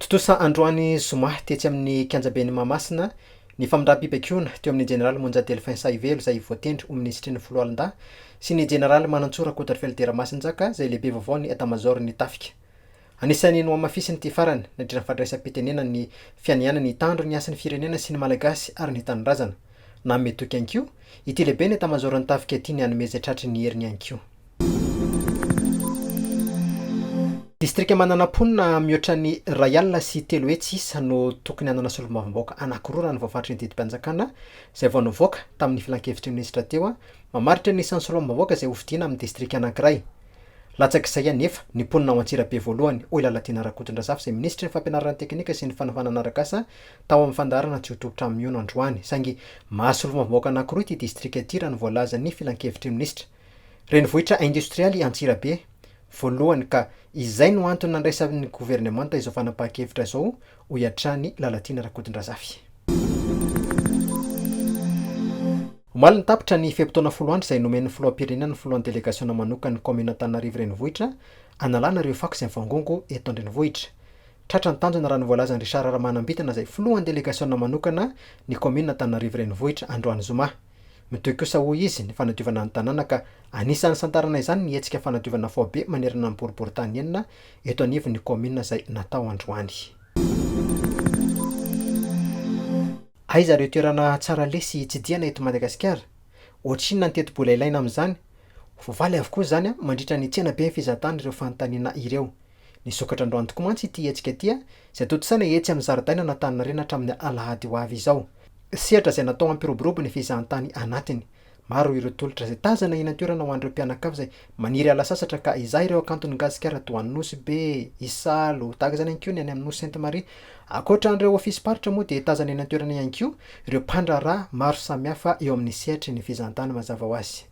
Tontosa androany zoma tetsy amin'ny kianjaben'i Mahamasina ny famindram-pibaikoana teo amin'ny jeneraly Monja Delphin Sahivelo izay voatendry ho minisitry ny foloalindahy sy ny jeneraly Manantsoa Rakotoarifelder Ramasinjaka izay lehibe vaovaon'ny etamazaoron'ny tafika. Anisan'ny nohamafisiny ity farany nandritra ny fandraisam-pitenenany ny fianianany hitandro ny hasin'ny firenena sy ny Malagasy ary ny tanindrazana. Nanome toky ihany koa ity lehiben'ny etamazaoron'ny tafika ity ny hanome izay tratry ny heriny ihany koa. Distrika manana mponina mihoatra ny iray alina sy telo hetsy isa no tokony hanana solombavambahoaka anankiroa raha ny voafaritry ny didim-panjakana izay vao nivoaka tamin'ny filankevitry ny minisitra teo mamaritra ny isan'ny solombavambahoaka izay hofidiana amin'ny distrika anankiray. Latsak'izay anefa ny mponina ao Antsirabe voalohany, hoy Lalatiana Rakotondrazafy izay minisitry ny fampianarana teknika sy ny fanavanana arak'asa tao amin'ny fandaharana tsy ho tompon-trano mihono androany saingy mahasolombavambahoaka anankiroa ity distrika ity raha ny voalazan'ny filankevitry ny minisitra. Renivohitra indostrialy i Antsirabe, voalohany ka izay no antony nandraisan'ny governemanta izao fanapahan-kevitra izao, hoy hatrany Lalatiana Rakotondrazafy. Omaly no tapitra ny fe-potoana folo andro izay nomen'ny filoham-pirenena ny filohan'ny delegasiona manokan'ny kaominina Antananarivo Renivohitra hanalana ireo fako izay mivangongo eto an-drenivohitra. Tratra ny tanjona raha ny voalazan'i Richard Ramanambitana izay filohan'ny delegasiona manokana ny kaominina Antananarivo Renivohitra androany zoma. Mitohy kosa hoy izy ny fanadiovana ny tanàna ka anisan'ny santarana izany ny hetsika fanadiovana faobe manerana ny boriborintany enina eto anivon'ny kaominina izay natao androany. Aiza ireo toerana tsara lesy hitsidihana eto Madagasikara? Ohatrinona ny tetibola ilaina amin'izany? Ho faly avokoa izany mandritra ny tsenaben'ny fizahantany ireo fanontaniana ireo. Nisokatra androany tokoa mantsy ity hetsika ity izay tontosaina etsy amin'ny zaridainan'Antaninarenina hatramin'ny alahady ho avy izao. Sehatra izay natao hampiroborobo ny fizahantany anatiny. Maro ireo tolotra izay tazana eny an-toerana ho an'ireo mpianakavy izay maniry hiala sasatra ka hizaha ireo hakanton'i Gasikara toa an'i Nosy Be, Isalo, tahaka izany ihany koa ny any amin'ny Nosy Sainte Marie. Ankoatra an'ireo ofisim-paritra moa dia tazana eny an-toerana ihany koa ireo mpandraharaha maro samihafa eo amin'ny sehatry ny fizahantany mazava ho azy.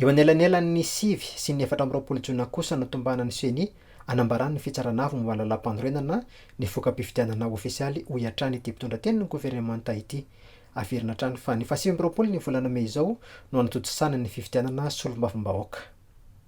Eo anelanelan'ny sivy sy ny efatra amby roapolo jona kosa no tombanan'ny Ceni anambaran'ny fitsarana avo momba ny lalàmpanorenana ny voka-pifidianana ofisialy, hoy hatrany ity mpitondra tenin'ny governemanta ity. Averina hatrany fa ny fahasivy amby roapolo ny volana mey izao no hanatontosana ny fifidianana solombavambahoaka.